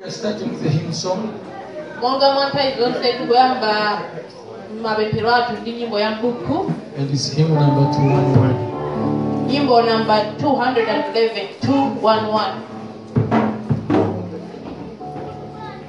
We're starting with the hymn song. monga mwa nthawi zonse tikuyamba mapemphero athu ndi nyimbo ya mbuku And it's hymn number 211. nyimbo namba 211 211 Thank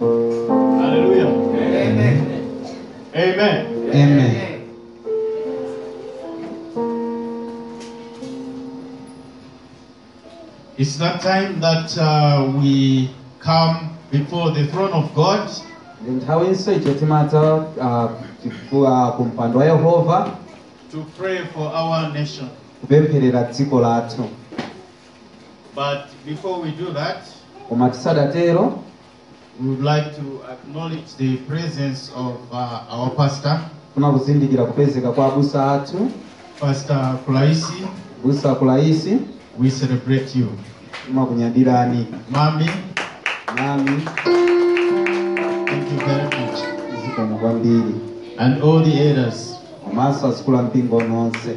Hallelujah. Amen. Amen. Amen. It's that time that uh, we come before the throne of God ndi nthawinso icho timadza ah, chifu- ah, ku mpando wa yehova to pray for our nation. kupempherera dziko lathu But before we do that, koma tisadatero we would like to acknowledge the presence of uh, our pastor, tikufuna kuzindikira kupezeka kwa abusa athu Pastor Kulaisi. abusa kulaisi We celebrate you. timakunyadirani Mommy, mami thank you very much. zikomo kwambiri And all the elders. komanso azikulu ampingo nonse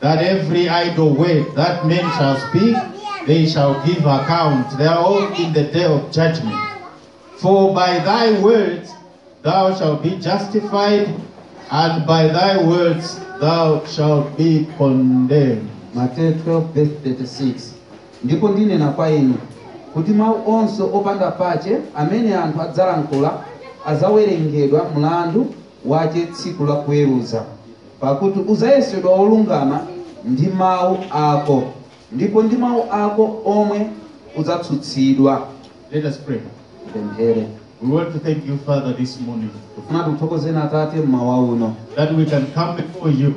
that every idle word that men shall speak, they shall give account thereof in the day of judgment. For by thy words thou shalt be justified, and by thy words thou shalt be condemned. Mateyu 12:36 ndipo ndinena kwa inu kuti mawu onse opanda pache amene anthu adzalankhula adzawerengedwa mlandu wace tsiku la kuweruza, pakuti udzayesedwa wolungama ndi mau ako, ndipo ndi mau ako omwe udzatsutsidwa. Let us pray. Tipemphere. We want to thank you, Father, this morning Tikufuna tikuthokozeni Atate mmawa uno that we can come before you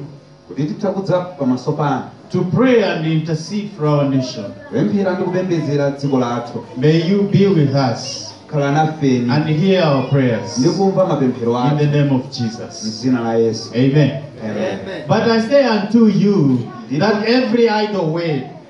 kuti titha kudza pamaso panu to pray and intercede for our nation. kupemphera ndi kupembedzera dziko lathu May you be with us khala nafe and hear our prayers ndi kumva mapemphero athu in the name of Jesus. m'dzina la yesu Amen. Amen. But I say unto you that every idle word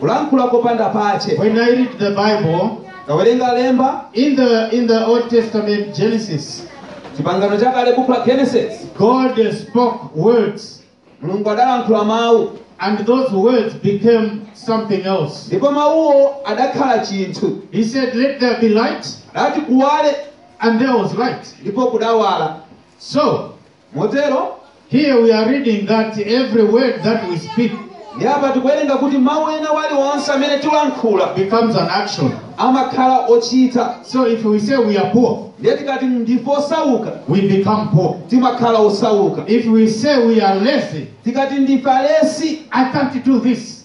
kulankhula kopanda pache When I read the Bible, ndikawerenga lemba in the in the Old Testament Genesis, chipangano chakale buku la genesis God spoke words, mulungu adalankhula mawu and those words became something else. ndipo mawuwo adakhala chinthu He said, "Let there be light," adati kuwale and there was light. ndipo kudawala So motero Here we are reading that every word that we speak ndi apa tikuwerenga kuti mawu ena aliwonse amene tilankhula becomes an action. amakhala ochita. So if we say we are poor, ndiye tikati ndife osauka we become poor. timakhala osauka If we say we are lazy, tikati ndife alesi I can't do this.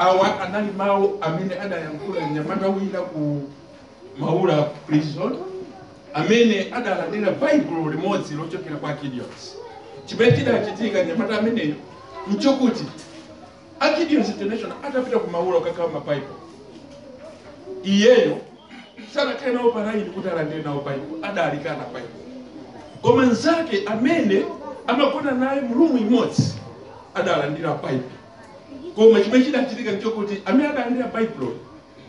awa anali mawu amene adayankhula mnyamata wina ku maula prison amene adalandira baibulo limodzi lochokera kwa gideons chimene chidachitika mnyamata ameneyo nchokuti a Gideons International atapita ku Maula kukagawa ma Bible iyeyo sanakhale nawo pa line kuti alandire nawo Bible adalikana Bible koma nzake amene amagona naye mu room imodzi adalandira Bible koma chimene chidachitika nchokuti amene adalandira Bible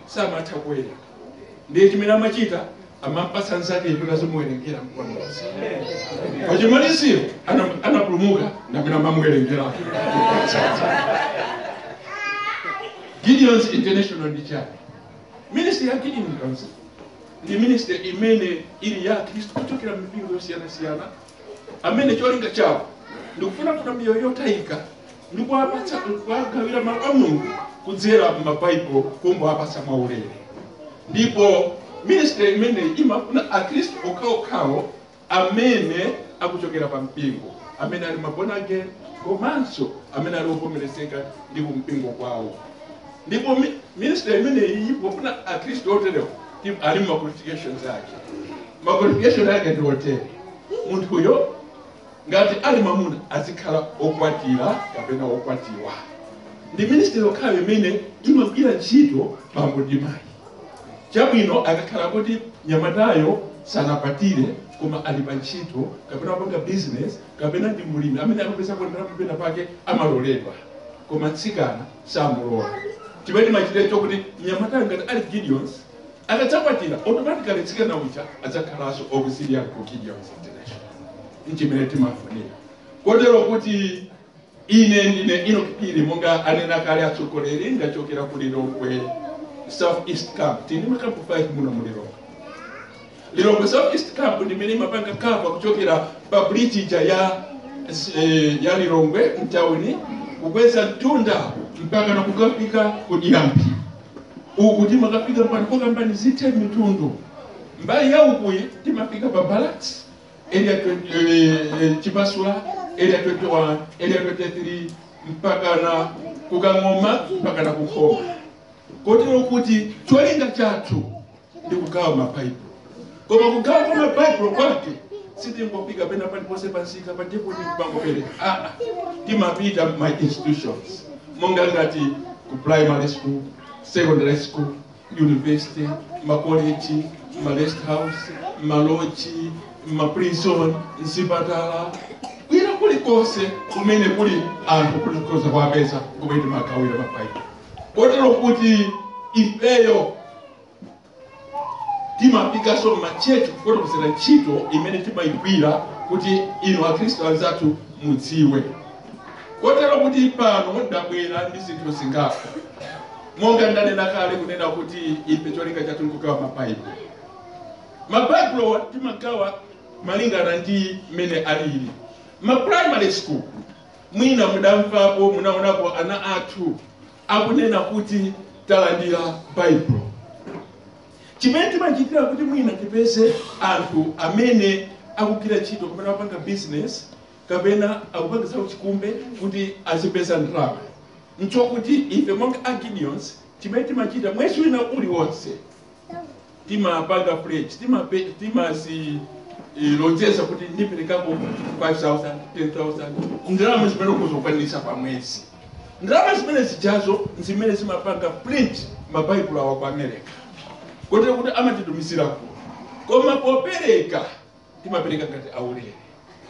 samatha kuwerenga ndiye chimene amachita amampatsa nzakeyo kuti azimuwerengera koma pachimaliziro ana- anapulumuka ndi amene amamuwerengera gideons international ndi chani ministry ya gideons international ndi ministry imene ili ya khristu kuchokera mipingo yosiyanasiyana amene cholinga chawo ndikufunafuna miyoyo yotayika ndi kuwapatsa kuwagawira mawu a mulungu kudzera m'mabaibulo kungowapatsa mwaulere ndipo ministry imeneyi imafuna akhristu okhaokhawo amene akuchokera pa mpingo amene ali mabona again komanso amene ali ovomerezeka ndi kumpingo kwawo ndipo mi- ministry imeneyi imafuna akhristu oterewo Tim- ali ndi ma qualifications ake ma qualification ake ndi otere munthuyo ngati ali mwamuna azikhala okwatira kapena okwatiwa ndi ministry yokhayo imene imagwira ntchito bambo ndi mayi chabwino akakhala kuti mnyamatayo sanakwatire koma ali pa ntchito kapena akupanga business kapena ndi mulimi amene akupeza kandalama pena pake amaloledwa koma mtsikana samulola chimene timachitira nchokuti mnyamata ngati ali gideons akadzakwatira automatically mtsikana uja adzakhalanso auxiliary ku gideons international nchimene timafunira kotero kuti ine ndine ino kipiri monga anena kale atsogoleri ndachokera ku lilongwe south east camp tili makampu 5 muno mu lilongwe Lilongwe South East Camp ndi imene imapanga cover kuchokera pa bridge ija ya eh, ya Lilongwe mtauni kukweza mtunda mpaka na kukafika ku Diamphwe uku timakafika mpaka pokambani zithe Mitundu mbali ya ukuyi timafika pa barracks area 20, eh, eh, Chipasula area 21 area 23 mpaka na kukang'oma mpaka na kukhoma kotero kuti cholinga chathu ndi kugawa mabaibulo koma kugawa kwa mabaibulo kwake sitingofika pena paliponse pamsika pa depoti pangopereka aa timapita ma institutions monga ngati ku primary school secondary school university makoleji ma rest house maloji maprison mzipatala kwina kulikonse kumene kuli anthu kulikonse kwapeza kumene timagawira mabaibulo kotero kuti ifeyo timafikanso m'machechi kufotokozera ntchito imene timayigwira kuti inu akhristu anzathu mudziwe kotero kuti pano ndabwera ndi zinthu zingapo monga ndanena kale kunena kuti ife cholinga chathu ndikugawa mabaibulo mabaibulowa timagawa malingana ndi mmene alili ma primary school mwina mudamvapo munaonapo ana athu akunena kuti talandira Baibulo. Chimene timachitira kuti mwina tipeze anthu amene akugwira ntchito kapena akupanga bizinesi kapena akupanga zauchikumbe kuti azipeza ndalama nchokuti ife monga a Gideons chimene timachita mwezi wina uliwonse, timapanga pledge timape timasi eh, lonjeza kuti ndiperekako 5000 10000 ndalama zimene ukuzikwaniritsa pa mwezi ndalama zimene zijazo ndi zimene zimapanga print mabaibulo awa ku america kotero kuti amatitumizira kuno koma popereka timapereka ngati aulere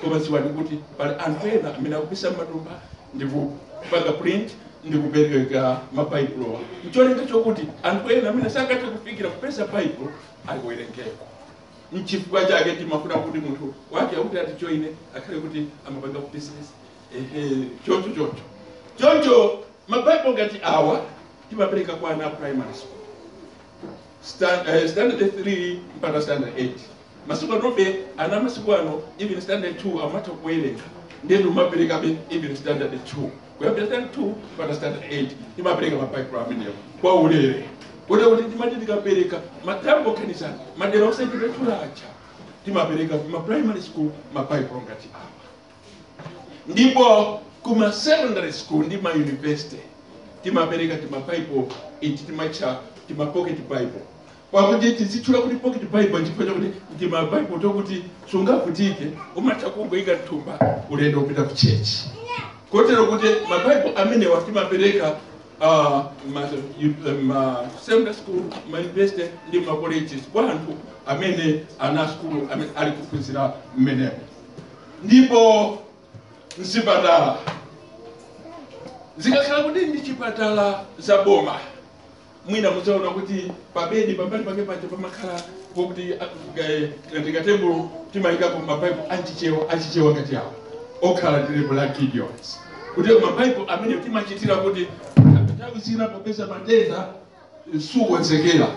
koma dziwani kuti pali anthu ena amene akupisa m'matumba ndipo kupanga print ndi kupereka mabaibulowa ncholinga chokuti anthu ena amene sangathe kufikira kupeza baibulo aliwerengeko nchifukwa chake timafuna kuti munthu wake akati atijoine akhale kuti amapanga business ehe choncho choncho choncho mabaibulo ngati awa timapereka kwa ana a primary school Stand, uh, standard 3 mpaka standard 8 masiku anobe ana masiku ano even standard 2 amatha kuwerenga ndiyetu timaperekabe even standard 2 kuyambira standard 2 mpaka standard 8 timapereka mabaibulo amenewo kwa ulere kotero kuti timati tikapereka mathambo okhanisana madera osachepetula aja timapereka kuma primary school mabaibulo ngati awa ndipo kuma secondary school ndi ma university timapereka tima bible iti timatitcha tima pocket bible pakuti timatchula kuti pocket bible chifukwa chakuti tima bible tokuti sungavutike umatha kungoyika mthumba ulendo kupita ku church kotero kuti ma bible amenewa timapereka uh, ma, uh, ma secondary school ma university ndi ma colleges kwa anthu amene ana asukulu amene ali kuphunzira mmenemo ndipo mzipatala zikakhala kuti ndi zipatala za boma mwina mudzaona kuti pabedi pambali pake paja pamakhala pokuti ndi katebulo timayikapo mabaibulo achichewa achichewa ngati awa okhala ndi lebo la gideons kuti mabaibulo amene timachitira kuti nthawi zina popeza matenda sukonzekera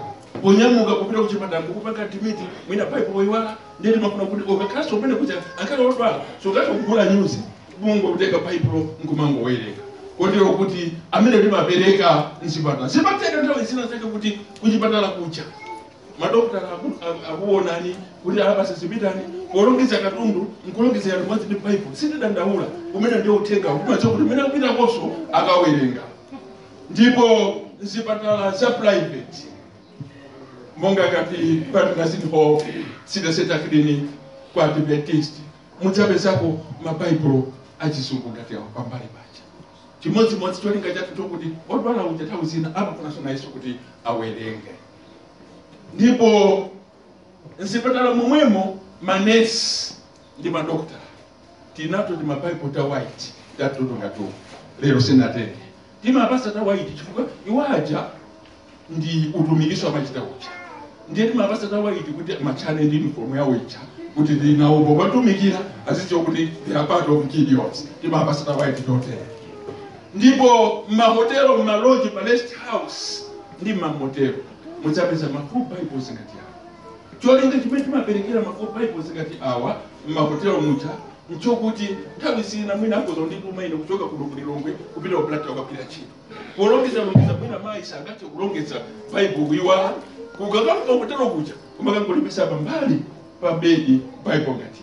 kunyamuka kupita kuchipatala nkukupanga admit mwina baibulo wayiwala ndiye timafuna kuti ukakhalanso mmene kuja akhale odwala sangati kugula nyuzi kungotenga baibulo nkumangowerenga kotero kuti amene timapereka mchipatala zimatero nthawi zina zake kuti kuchipatala kuja madokotala aku- aku- akuonani kuti mwachira zipitani polongeza katundu nkulongezera limodzi ndi baibulo sitidandaula umenewo ndiye uthenga timadziwa kuti kumene akupita konko akawerenga ndipo mzipatala za private monga ngati patauni city centre clinic kwa adventist mudzapezapo mabaibulo achizungu ngati awa pambali paja chimodzimodzi cholinga chathu nchokuti odwala uja nthawi zina amafunanso nayenso kuti awerenge ndipo mzipatala momwemo manesi ndi madokotala tili nato timabaibulo ta white tatotere ngatu lero sinatenge timawapatsa ta white chifukwa iwo aja ndi utumikiso amachita uja ndiye timawapatsa ta white kuti timatchane ndi uniform yawo ija kuti naonso pomatumikira azidziwa kuti they are part of gideons timawapatsa ta white totere ndipo mmahotelo mmaloji pa rest house ndi mmamotelo mudzapeza ma full bibles ngati awa Cholinga chimene timaperekera ma full bibles ngati awa m'mahotelo muja nchokuti nthawi zina mwina akhoza kundituma ine kuchoka kuno ku Lilongwe kupita ku Blantyre kukagwira ntchito polongeza longeza mwina mayi sangathe kulongeza baibulo kuyiwala kukakhala ku hotelo kuja umakangolipeza pambali pa bedi baibulo ngati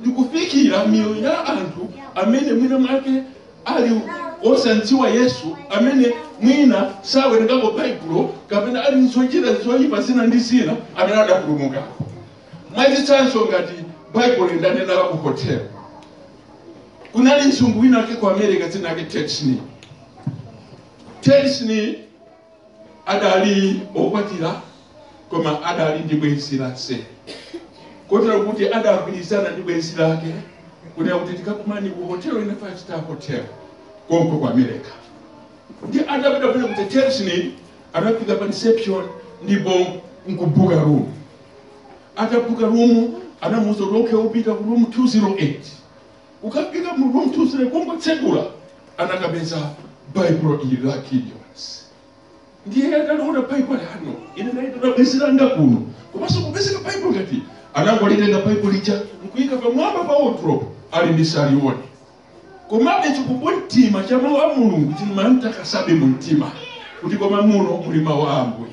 ndi kufikira miyoyo ya anthu amene mwina mwake ali osandziwa yesu amene mwina sawerengako baibulo kapena ali mzochita zoyipa zina ndi zina amene adapulumuka mwachitsanzo ngati baibulo ndanena la ku hotel kunali mzungu wina wake ku america dzina lake ted sni ted sni adali okwatiwa koma adali ndi bwenzi la mseri kotero kuti adagwirizana ndi bwenzi lake kunena kuti tikakumane ku hotel ina five star hotel konko ku america ndi atapita kuti kuti chelsea anafika pa reception ndipo nkubuka room atabuka room anamuuza kuti okay upite ku room 208 Kukafika mu room 208 kungotsegula anakapeza baibulo ili la Gideons ndiye ataliona baibulo a no ine ndabwerera zanga kuno komanso kupezeka baibulo ngati anangolitenga baibulo lija nkuyika pamwamba pa wardrobe ali ndisalione komabe chikumbumtima cha mawu a mulungu chimamtakasabe mu mtima kuti koma muno muli mawu a ambuye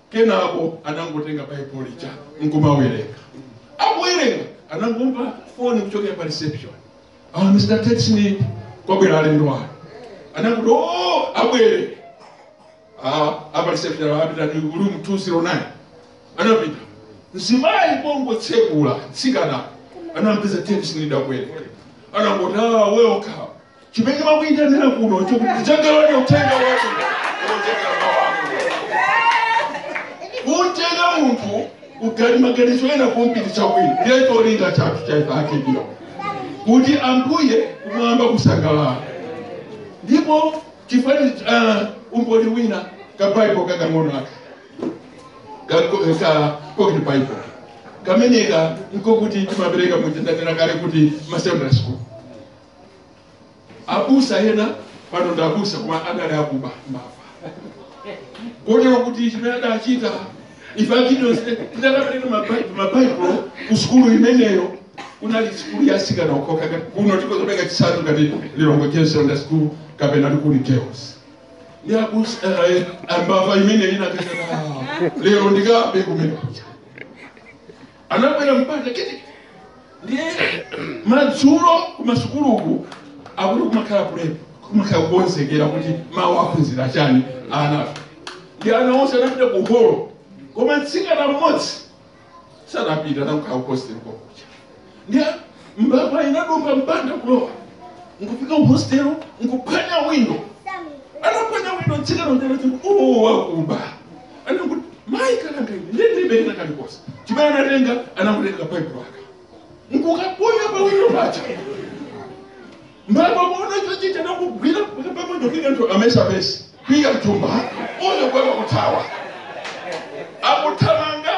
kenako anangotenga baibulo lija nkumawerenga akuwerenga anangomva foni kuchokera pa reception ah, mr tetsnip kwabwera alendo anu anangoti o abwere Ah, a pa reception a pitani room 209 anapita mzimayi pongotsekula chitseko anampeza tetsnip akuwerenga anangoti ah, welcome chimene ndakuyitanira kuno chikutengerani uthenga wathu kutenga mawamu kutenga munthu ali maganizo ena kumpititsa kwina ndiye cholinga chathu cha ife a Gideons kuti ambuye kumwamba kusangalale ndipo chifani uh, umboni wina ka bible kakang'ono aka Kako- ka pocket bible kameneka nkakuti timapereka monga ndanena kale kuti ma secondary school abusa ena pano ndi abusa koma adali akuba mbava kotero kuti chimene adachita ife a Gideons tidakapereka mabaibulo ku sukulu imeneyo inali sukulu ya atsikana okhaokha kuno tikhoza kupereka chitsanzo ngati lilongwe secondary sukulu kapena likuni girls ndi abusa eh, a mbava imeneyo inati lero ndikabe kumene anabwera mpanda kuti ndiye madzulo kumasukuluku kuti kumakhala prep kumakhala kukonzekera kuti mawa aphunzira chani ana ndi ana onse anapita ku holo koma mtsikana mmodzi sanapita anangokhala ku hostel kwakuda ndiye mbava inadumpha mpanda kulowa nkufika ku hostel nkuphwanya windo anaphwanya windo tsikana uja ati uwo wakuba anangoti mayi kalanga ine ine ndilibe kalikonse chimene anatenga anangotenga baibulo lake nkukaponya pa windo paja mbava kuona chochita nkugwira kuti pamoja kika nthu amayesa purse kuika mthumba uyo nkuyamba kuthawa akuthamanga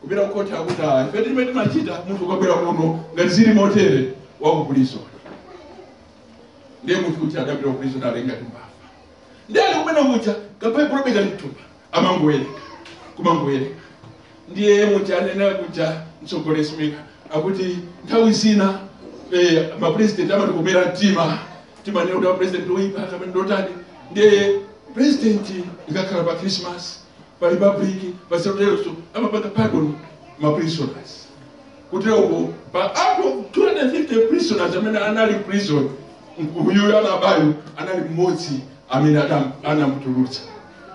kupita kukhoti akuti ayi ife timene timachita munthu ukabwera kuno ngati zili motere waku prison ndiye munthu kuti adapita ku prison nalenga timbafa ndiye ali kumene kuja kabaibulo beka mthumba amangowerenga kumangowerenga ndiye muja anena kuja mtsogoleri mika akuti nthawi zina eh, mapresident amatikomera mtima timanena kuti apresident oyipa kapena ndotani ndiye president ikakhala pa christmas pa republic pa easternso amapanga pardon ma prisoners kuteroko pa out of 250 prisoners amene anali prison uyuyo anabayo anali mmodzi amene adam- anamutulutsa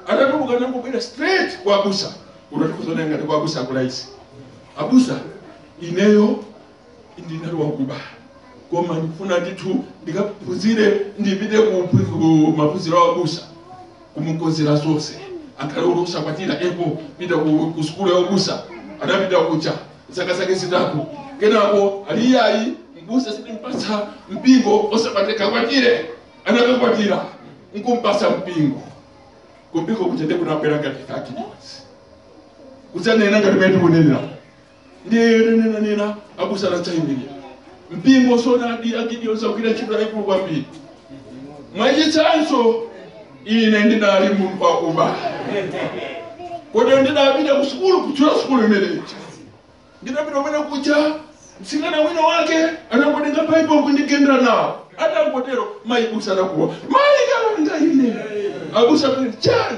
atatuluka anangobwera straight kwa abusa unatifuza naye ngati kwa abusa akulaisi abusa ineyo ndinali wakuba koma ndikufuna ndithu ndikaphunzire ndipite ku ku maphunziro a ubusa kumukonzera zonse akhale kuti usakwatire epo pita ku, ku sukulu ya ubusa anapita kuja zaka zake zitatu kenako ali iyayi mbusa sitimpatsa mpingo osakwatira akwatire anakakwatira nkumpatsa mpingo kumpingo kuja nde kunabwera ngati 30 kudzanena ngati mene tikunenera ndiye yonena nena abusa anadzayimirira mpingo zoonadi agideons agwira ntchito yayikulu kwambiri mwachitsanzo ine ndidali munthu wakuba kotero ndidapita ku sukulu kutchula sukulu imeneyi ndidapita kumene kuja mtsikana wina wake anangotenga baibulo kundigendera nawo atangotero mayibusa anakuwa mayi kalanga ine abusa kuti chani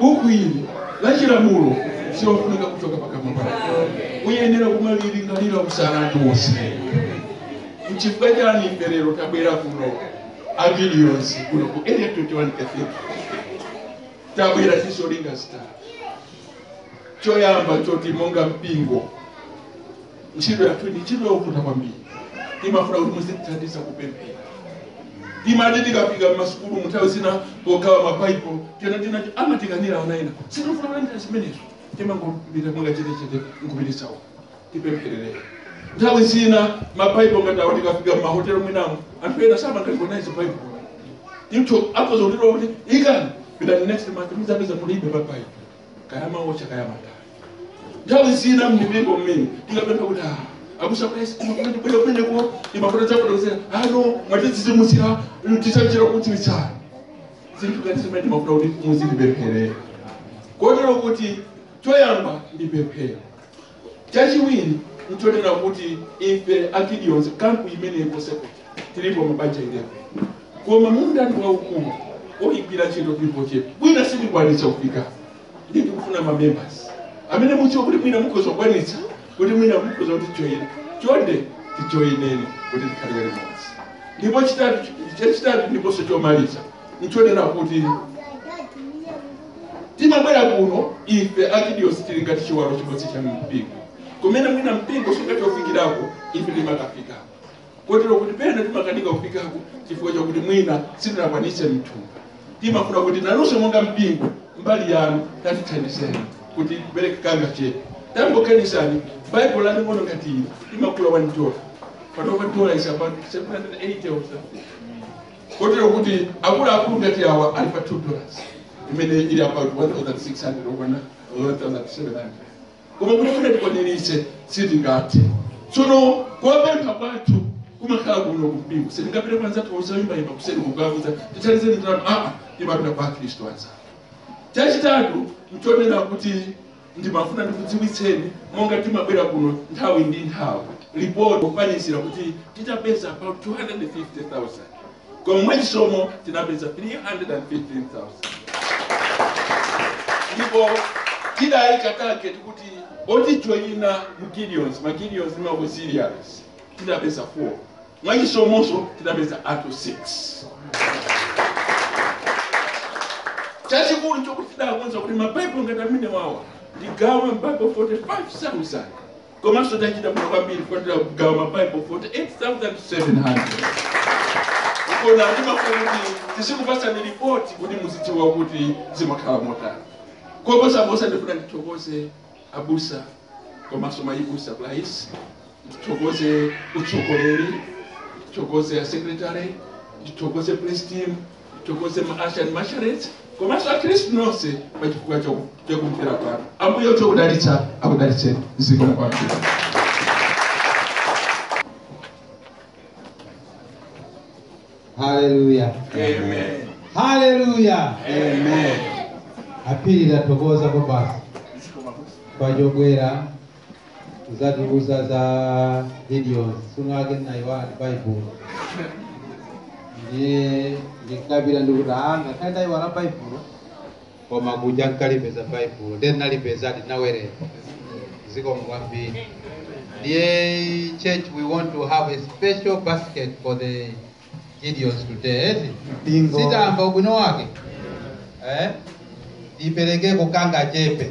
Buku ili la chilamulo silofunika kuchoka pakamwa pako uyenera kumalilingalira usana ndi wonse mchifukwa chani ife lero tabwera kuno agideons kuno ku area 21 cathedral tabwera ndi zolinga zitatu choyamba choti monga mpingo ntchito yathu ndi ntchito yovuta kwambiri imafuna kuti muzitithandiza kupemphera timati tikafika m'masukulumu nthawi zina pogawa mabaibulo tena tina amatikanira ana ena sitifuna kulandira zimenezo timangopita mwakachetechete nkupititsa uko tipempherereni nthawi zina mabaibulo ngati awo tikafika m'mahotelo mwinamu anthu ena samalirecognize baibulo imtho akhoza kutiuza kuti ikani pitani next month muzapeza mulibe mabaibulo kaya amaotcha kaya amatani nthawi zina mmipingo mmene tikapempha kuti ah, abusa please koma kumene bwera kumeneko timafuna dzakufotokozera ah no mwatidzidzimutsira tisanjira kudziwitsana zinthu ngati zimene timafuna kuti muzitipempherera kotero kuti choyamba ndi pemphero Chachiwiri nchonena kuti ife a Gideons camp imeneyi konse kuti tilipo mabanja 11 koma munda ndi waukulu oyigwira ntchito tilipo ochepa mwina sitikwanitsa kufika ndi tikufuna ma members amene mukudziwa kuti mwina mukhoza kukwanitsa kuti mwina mukhoza kutijoyina chonde tijoyineni kuti tikhalire limodzi ndipo chitatu chachitatu ndiponso chomaliza nchonena kuti timabwera kuno ife a Gideons tili ngati chiwalo chimodzi cha mpingo kumene mwina mpingo sungathe kufikirako ife timakafikako kotero kuti pena timakanika kufikako chifukwa chakuti mwina sitinakwanitse mthumba timafuna kuti nanunso monga mpingo mbali yanu tatithandizeni kuti kupereka kangachepe tangoganizani baibulo laling'ono ngati ili timagula 1 dola panopa dola ili pa 780 or something kotero kuti akuluakulu ngati awa ali pa 2 dollars imene ili about 1600 kukwana 1700 koma kuti kuti tikwaniritse sitingathe tsono kupempha kwathu kumakhala kuno kumpingo sitingapite kwa anzathu oyimbayimba kuseni kukawauza tithandizeni ndalama aa timapita kwa akristu anzathu chachitatu nchonena kuti Ndimafuna ndikudziwitseni monga timabwera kuno nthawi ndi nthawi lipoti lokwanitsira kuti tidzapeza about 250,000 koma mwachisomo tinapeza 315,000 ndipo tidayika target kuti otijoyina mu Gideons ma Gideons ndi ma Auxiliaries tidzapeza 4 Mwachisomonso tinapeza anthu 6. Chachikulu chokuti tidakonza kuti mabaibulo ngati amenewawa tigawe mabaibulo 45,000 komanso tachita bwino kwambiri kukwatira kugawa mabaibulo 48,700 koma timafuna kuti tizikupatsani ripoti kuti muzidziwa kuti zimakhala motani koposa posa ndifuna ndithokoze abusa komanso mayi busa please ndithokoze utsogoleri ndithokoze asekretary ndithokoze praise team ndithokoze maasha ndi masharets komanso akhristu nonse pa chifukwa chaku- chakumvera kwanu ambuye otha kudalitsa akudalitse ziko kwanu haleluya Amen. haleluya Amen. a Phiri tathokoza kwabasi chobwera kudzatiuza za Gideons suno ake ndinayiwala baibulo ndiye ndikukapita ndikuti anga khayi ndayiwala baibulo koma kuja nkukalipeza baibulo ndiye ndinalipezadi ndinawerenga zikomo kwambiri ndiye church we want to have a special basket for the gideons today eti Bingo. sitamva ubwino wake eh? tiperekeko kangachepe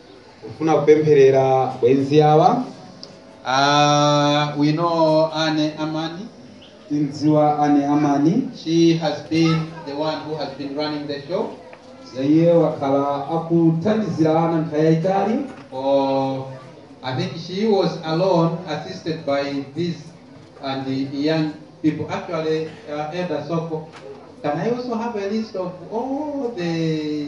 kufuna kupempherera bwenzi awa Uh, we know Anne Amani. timdziwa ane amani She has been the one who has been running the show iye wakhala akuthandizira ana nthawi yayitali for, I think she was alone, assisted by these and the young people. Actually, uh, Elder Soko, can I also have a list of all the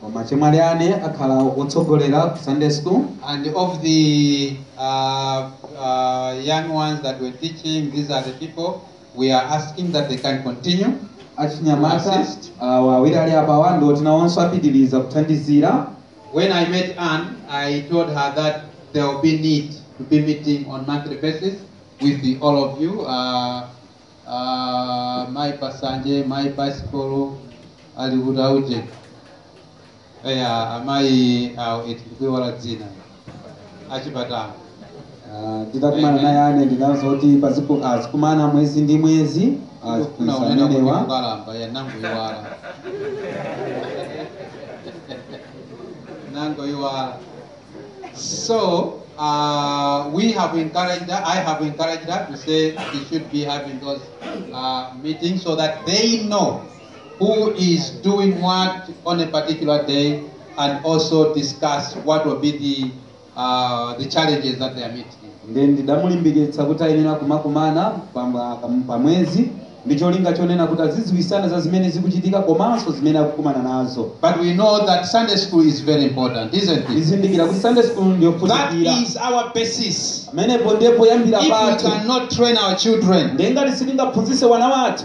Koma achemwali Anne akhala otsogolera ku Sunday school. And of the uh, uh, young ones that were teaching, these are the people we are asking that they can continue. Achinyamata Assist. awa awiri ali apawa ndi oti nawonso apitiriza kuthandizira. When I met Anne, I told her that there will be need to be meeting on monthly basis with the, all of you. Uh, Ah, mai Pasanje mai Basikolo ali kuti auje eya amayi awo eti ndikuiwala dzina a Chipatala Ah, nditakumana naye Anne ndinanena kuti paziku- ah, zikumana mwezi ndi mwezi ah, Ndikufuna kunena kuti zimenewa kukalamba ya nangoiwala nangoiwala So uh, we have encouraged her, I have encouraged her to say they should be having those uh, meetings so that they know who is doing what on a particular day and also discuss what will be the, uh, the challenges that they are meeting. nde ndidamulimbikitsa kuti ayenera kumakumana pamwa- pamwezi ndi cholinga chonena kuti azidziwitsana za zimene zikuchitika komanso zimene akukumana nazo. But we know that Sunday school is very important, isn't it? Tikuzindikira kuti Sunday school That ndiyofunikira. is our basis. Pamenepo ndiye poyambira If we pathu. cannot train our children, Ndiye ngati sitingaphunzitse wana wathu,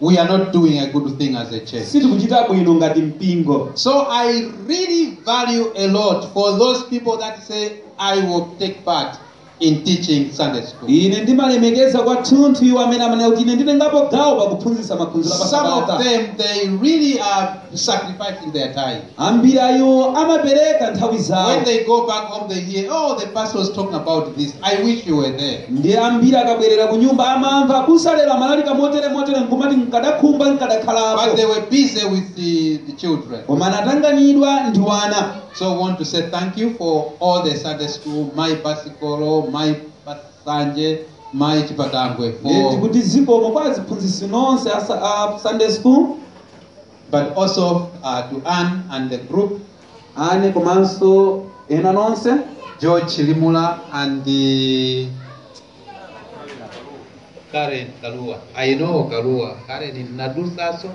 we are not doing a good thing as a church. sitikuchita bwino ngati mpingo. So I really value a lot for those people that say, I will take part. in teaching Sunday school. ine ndimalemekeza kwathunthu iwo amene amanena kuti ine nditengapo gawo pakuphunzitsa maphunziro Some of apasabata them, they really are sacrificing their time. ambiri a iwo amapereka nthawi zawo When they go back home, they hear, oh, the pastor was talking about this. I wish you were there. ndi ambiri akabwerera ku nyumba amamva abusa lero amalalika motere motere nkumati nkadakhumba But they nkadakhalapo were busy with the, the children. koma anatanganidwa ndi wana So I want to say thank you for all the Sunday school, mai Basikolo, mai Pasanje, mai Chipatangwe. Ndikuti For, kuti zikomo kwa aziphunzitsi nonse a sa- a sunday school but also uh, to Anne and the group, Anne komanso ena nonse George Chilimula and the Karen Kalua. I know Kalua. Karen ni nadusaso.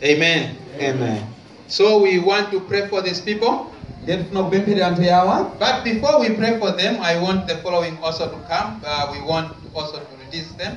Amen. Amen. So we want to pray for these people. Ndiye tinakupemphera anthu yawa. But before we pray for them, I want the following also to come. Uh, we want also to release them.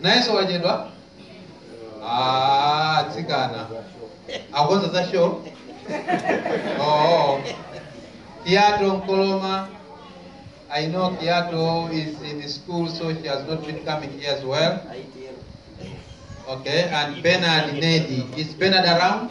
nayenso wachedwa Ah, atsikana akonza za show oh. kiato nkoloma i know kiato is in school so she has not been coming here as well okay and bernard nedi is bernard around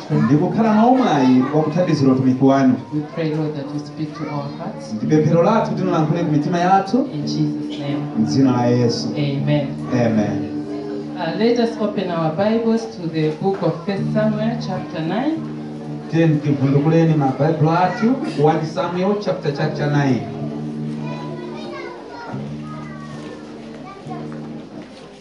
ndi kukhala nawo mwayi wa kuthandizira utumiki wanu We pray, Lord, that you speak to our hearts. ndi pemphero lathu kuti mulankhule ku mitima yathu In Jesus' name, m'dzina la yesu amen. amen Uh, let us open our Bibles to the book of First Samuel, chapter 9. tiyeni tivundukuleni mabaibulo athu 1 samuel chapter chapter 9 Thank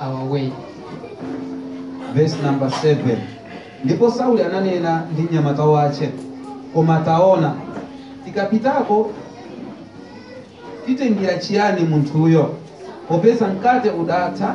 our way. Verse number 7. Ndipo Sauli ananena ndi mnyamata wace, koma taona, tikapitako timtengera chiyani munthuyo, popeza mkate udatha